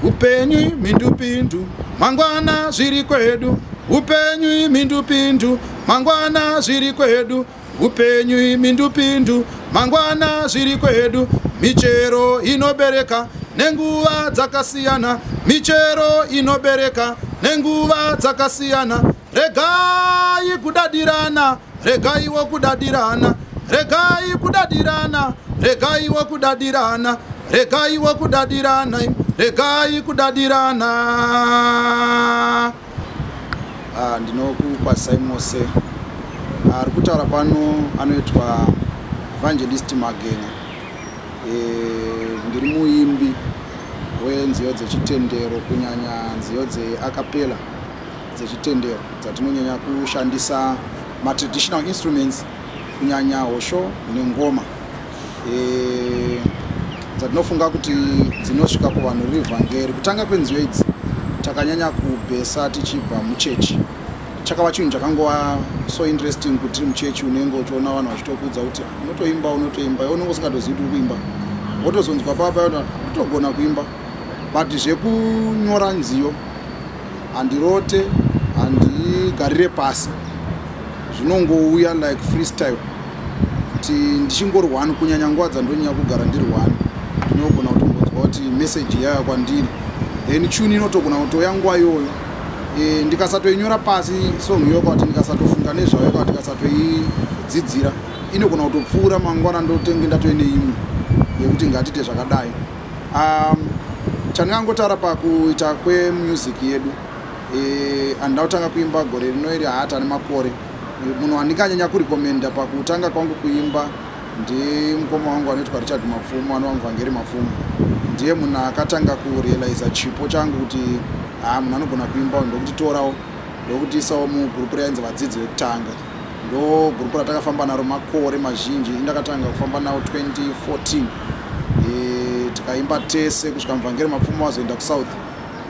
upenyu imhindupindu mangwana zviri kwedu upenyu imhindupindu mangwana zviri kwedu upenyu imhindupindu mangwana zviri kwedu michero inobereka nenguva dzakasiyana michero inobereka nenguva dzakasiyana regai kudadirana regai wokudadirana regai kudadirana regai wokudadirana regai wokudadirana regai kudadirana ah, ndinokukwasai mose ah, ari kutaura pano anoitwa evangelist magenya eh, ndiri muimbi wenziyo dzechitendero kunyanya nziyo dzeakapela dzezvitendero dzatinonyanya kushandisa matraditional instruments kunyanya hosho nengoma e, dzatinofunga kuti dzinosvika kuvanhu revhangeri kutanga kwenziyo idzi takanyanya kubhesa tichibva muchechi chakava chinhu chakangova so interesting kuti tiri muchechi unenge uchiona vanhu vachitokudza kuti unotoimba unotoimba iwe unenge usingatozivi kuti uri kuimba wotozonzwa papa yona utogona kuimba but zvekunyora nziyo handirote handigarire pasi zvinongouya like freestyle kuti ndichingori one kunyanya nguva dzandonyanya kugara ndiri one ndinogona kutongodzwa kuti message yaya kwandiri then chuni inotogona kutoya nguva iyoyo e, ndikasatoinyora pasi song iyoka kuti ndikasatofunga nezvayo ka ndikasatoidzidzira inogona kutopfuura mangwana ndotenge ndatoi neimwe yekuti ngatite zvakadai um, chandingangotaura pakuita kwemusic yedu e, andina kutanga kuimba gore rino iri haata nemakore munhu wandinganyanya kurekomenda pakutanga kwangu kuimba ndimukoma wangu anoitwa richard mapfumo ano wangu vangeri mapfumo ndiye munhu akatanga kurealiza chipo changu kuti haa munhu anogona kuimba ndokuti torawo ndokutiisawo mugrupu rainzi vadzidzi vekutanga ndo gurupu ratakafamba naro makore mazhinji indakatanga kufamba nawo 2014 e, tikaimba tese kusvika muvhangeri mapfumo wazoenda kusouth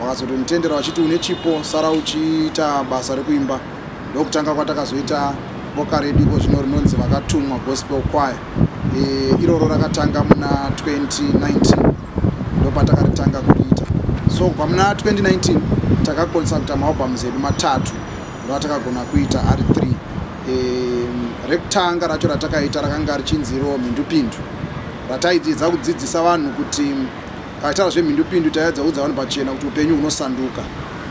vakazotonditendera vachiti une chipo sara uchiita basa rekuimba ndokutanga kwatakazoita boka redu iko zvino rinonzi vakatumwa gospel choir e, iroro rakatanga muna 2019 ndopatakaritanga kuriita so kubva muna 2019 takakonsa kuita maalbums edu matatu rwatakagona kuita ari 3 um, rekutanga racho ratakaita rakanga richinzi iro mhindupindu rataidzidza kudzidzisa vanhu kuti paitaura zvemhindupindu taedza kuudza vanhu pachena kuti upenyu hunosanduka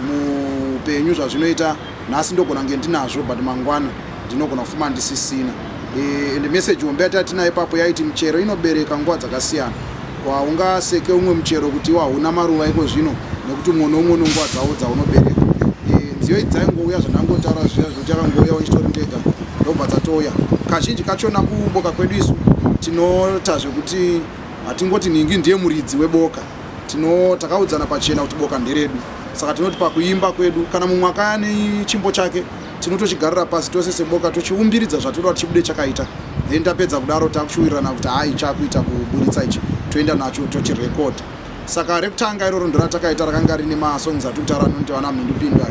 muupenyu zvazvinoita nhasi ndogona kunge ndinazvo but mangwana ndinogona kufuma ndisisina e, and message hombe yataitinayo ipapo yaiti michero inobereka nguva dzakasiyana haungaseke umwe muchero kuti iwo hauna maruva iko zvino nekuti umwe noumwe unonguva dzavo dzaunobereka e, nziyo idzi dzaingouya zvandangotaura zviya zvekuti akangouya wachitori ndega ndobva dzatouya kazhinji kachona kuboka kwedu isu tinota zvekuti hatingoti nhingi ndiye muridzi weboka tino takaudzana pachena kuti boka nderedu saka tinoti pakuimba kwedu kana mumwe akaya nechimbo chake tinotochigarira pasi tose seboka tochiumbiridza zvatinoda kuti chibude chakaita then tapedza kudaro takuchiwirirana kuti hai chakuita kuburitsa ichi toenda nacho tochirecord saka rekutanga iroro ndoratakaita rakanga rine masongs ati kutaura nonti vana mhindupinda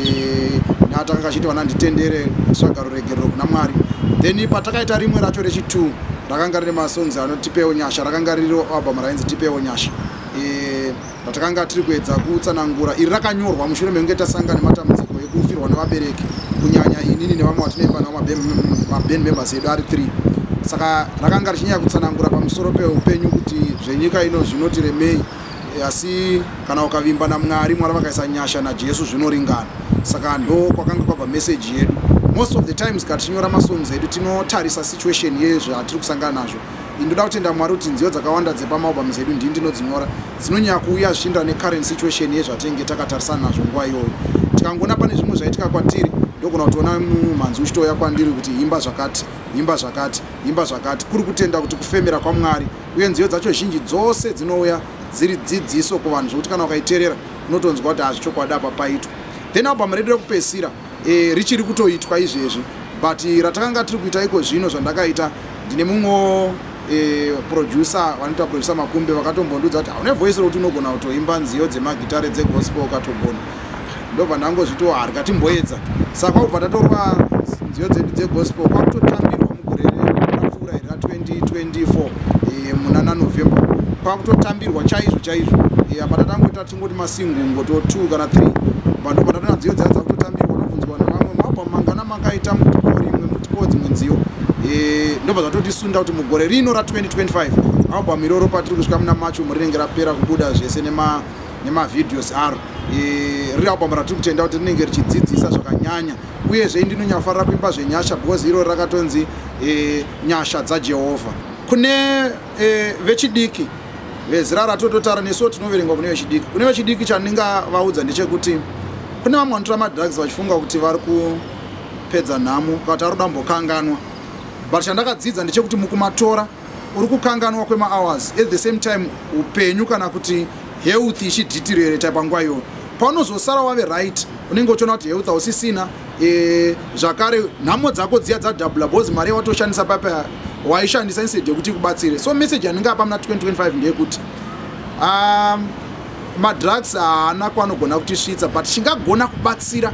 eh, natakanga achiti vana nditendere svagaro regerero kuna mwari then patakaita rimwe racho rechitwo rakanga rine masongs anoti tipewo nyasha rakanga riri album rainzi tipewo nyasha eh, ratakanga tiri kuedza kutsanangura iri rakanyorwa mushure mekunge tasanga nematambudziko ekufirwa nevabereki kunyanya inini nevamwe vatinemba navo maband members edu ari 3 saka rakanga richinyaya kutsanangura pamusoro peupenyu kuti zvenyika ino zvinotiremei asi kana ukavimba namwari mwari vakaisa nyasha najesu zvinoringana saka ndo kwakanga kwabva meseji yedu most of the times katichinyora masongs edu tinotarisa situation yezvatiri kusangana nazvo ini ndoda kutenda mwari kuti nziyo dzakawanda dzepamaalbums edu ndii ndinodzinyora dzinonyaya kuuya zvichindirana necurrent situation yezvatenge takatarisana nazvo nguva iyoyo tikangoona pane zvimwe zvaitika kwatiri ndogona kutoona mumhanzi uchitouya kwandiri kuti imba zvakati imba zvakati imba zvakati kuri kutenda kuti kufemera kwamwari uye nziyo dzacho zhinji dzose dzinouya dziri dzidziso kuvanhu zvekuti kana ukaiterera unotonzwa kuti hazvichokwadi apa paitwa then album redu rekupesira e, richiri kutoitwa izvezvi but ratakanga tiri kuita iko zvino zvandakaita ndine mumwewo e, producer vanoita producer makumbe vakatombondiudza kuti haune voice rokuti unogona kutoimba nziyo dzemagitare dzegospel ukatogona ndobva ndangozvitiwo harika timboedza saka kwakubva tatorwa nziyo dzedu dzegospel kwakutotambirwa mugore rapfuura iri ra 2024 e, muna nanovember kwakutotambirwa chaizvo chaizvo e, apa tatangoita kungoti masingungo to two kana three vanhu vatatu nadziyo dzaa dzakutotambirwa nobvunzwa na vamwe mabva mangana makaita mutipo rimwe mutipo dzimwe nziyo eh, ndobva zvatotisunda kuti mugore rino ra 2025 album iroro patiri kusvika muna macho murinenge rapera kubuda zvese nema nemavideos aro eh, riri album ratiri kutenda kuti rinenge richidzidzisa zvakanyanya uyezve indinonyafarira kuimba zvenyasha because irori rakatonzi e, nyasha dzajehovha kune e, vechidiki vezera ratototara nesuwo tinoverengwa kune vechidiki kune vechidiki chandingavaudza ndechekuti kune vamwe vanotora madrugs vachifunga kuti vari kupedza nhamo kati ari kudambokanganwa but chandakadzidza ndechekuti mukumatora uri kukanganwa kwemahours at the same time upenyu kana kuti health ichidhitirereta panguva iyoyo paunozosara wave right unenge uchiona kuti health hausisina e, zvakare nhamo dzako dziya dzadabula bcause mari yawatoshandisa papa waishandisa instead yekuti ikubatsire so message yanenge apa muna 2025 ndeyekuti um, madrugs haana kwanogona kutisvitsa but chingagona kubatsira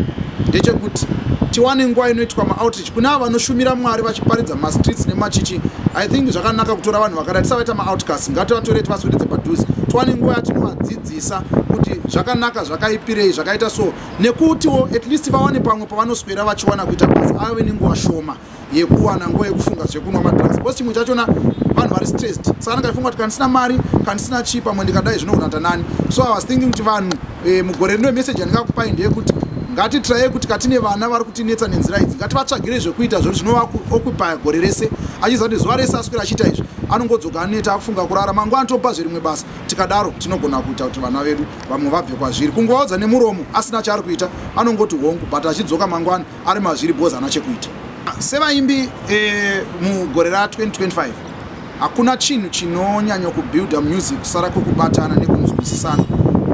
ndechekuti tiwane nguva inoitwa maoutreach kune avo vanoshumira mwari vachiparidza mastreets nemachichi i think zvakanaka kutora vanhu vakada tisavaita maoutcast ngativatore tivaswededze padhuze tiwane nguva yatinovadzidzisa kuti zvakanaka zvakaipirei zvakaita so nekutiwo at least vawane pamwe pavanoswera vachiwana kuita basa ave nenguva shoma yekuwana nguva yekufunga zvekunwa madrugs bcause chimwe chachona vanhu vari stressed saka anenge aifunga kuti kandisina mari kandisina chii pamwe ndikadai zvinogona ta nani so i was thinking kuti vanhu eh, mugore rino message yandingakupai ndeyekuti ngatitiraye kuti katine vana vari kutinetsa nenzira idzi ngativatsvagire zvekuita zvekuti zvinovaokupaya gore rese achiziva kuti zuva rese aswira achiita izvi anongodzoka aneta akufunga kurara mangwana topa zverimwe basa tikadaro tinogona kuita kuti vana vedu vamwe vabve kwazviri kungovaudza nemuromo asina chaari kuita anongoti hongu but achidzoka mangwana ari mazviri bhozi ana chekuita sevaimbi eh, mugore ra 2025 hakuna chinhu chinonyanya kubuilda music kusara kwekubatana nekunzwisisana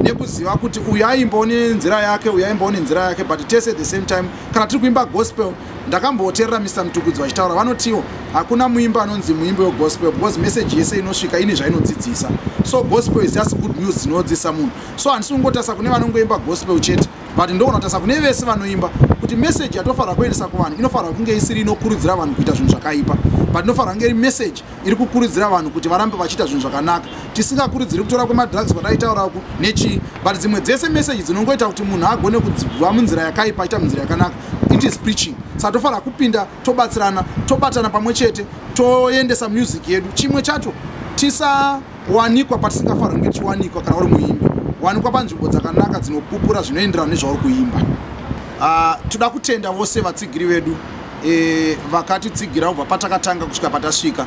nekuziva kuti uyu aimbawo nenzira yake uyu aimbawo nenzira yake but tese at the same time kana tiri kuimba gospel ndakambooterera mr mtukudzi vachitaura vanotiwo hakuna muimbi anonzi muimbi wegospel because message yese inosvika ine zvainodzidzisa so gospel is just good news dzinodzidzisa munhu so handisi kungotarisa kune vanongoimba gospel chete but ndogona kutarisa kune vese vanoimba kuti message yatofanira kuendesa kuvanhu inofanira kunge isiri inokurudzira vanhu kuita zvinhu zvakaipa but inofanira kunge iri message iri kukurudzira vanhu kuti varambe vachiita zvinhu zvakanaka tisingakurudziri kutora kwemadrugs kwataitaurako nechii but dzimwe dzese meseji dzinongoita kuti munhu agone kudzibva munzira yakaipa achiita munzira yakanaka it is preaching saka tofanira kupinda tobatsirana tobatana pamwe chete toendesa music yedu chimwe chacho tisa kuwanikwa patisingafarwi ngechiwanikwa kana uri muimbi wanikwa panzvimbo dzakanaka dzinopupura zvinoenderana nezvauri kuimba ah, toda kutenda vose vatsigiri vedu e, vakatitsigira kubva patakatanga kusvika patasvika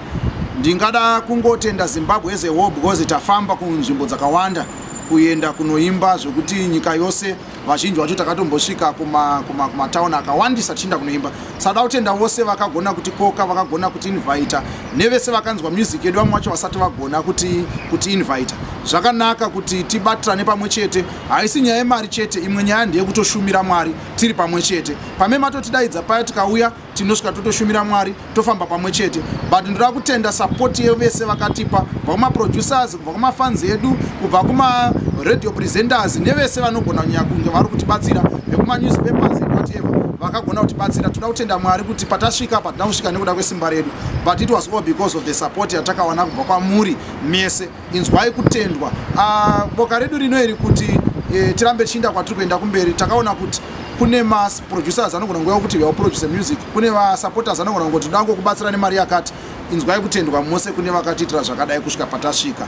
ndingada kungotenda zimbabwe as a war because tafamba kunzvimbo dzakawanda kuenda kunoimba zvekuti nyika yose vazhinji vacho takatombosvika kumatauni akawandisa tichiinda kunoimba sada kutenda vose vakagona kuti koka vakagona kuti invita nevese vakanzwa music yedu vamwe vacho vasati vagona kuti kuti invita zvakanaka kuti tibatirane pamwe chete haisi nyaya yemari chete imwe nyaya ndeyekutoshumira mwari tiri pamwe chete pame matotidaidza paya tikauya tinosvika totoshumira mwari tofamba pamwe chete but ndoda kutenda sapoti yevese vakatipa kubva kumaproducers kubva kumafans edu kubva kumaradio presenters nevese vanogona kunyaya kunge vari kutibatsira vekumanewspapers whatever vakagona kutibatsira toda kutenda mwari kuti patasvika patina kusvika nekuda kwesimba redu but it was all because of the support yatakawana kubva kwamuri mese inzwai kutendwa ah, boka redu rino iri kuti eh, tirambe chinda kwatiri kuenda kumberi takaona kuti kune maproducers anogona nguva yokuti vaproduce music kune vasupporters anogona ngoti ndangokubatsira nemari yakati inzwai kutendwa mose kune vakatiitira zvakadai kusvika patasvika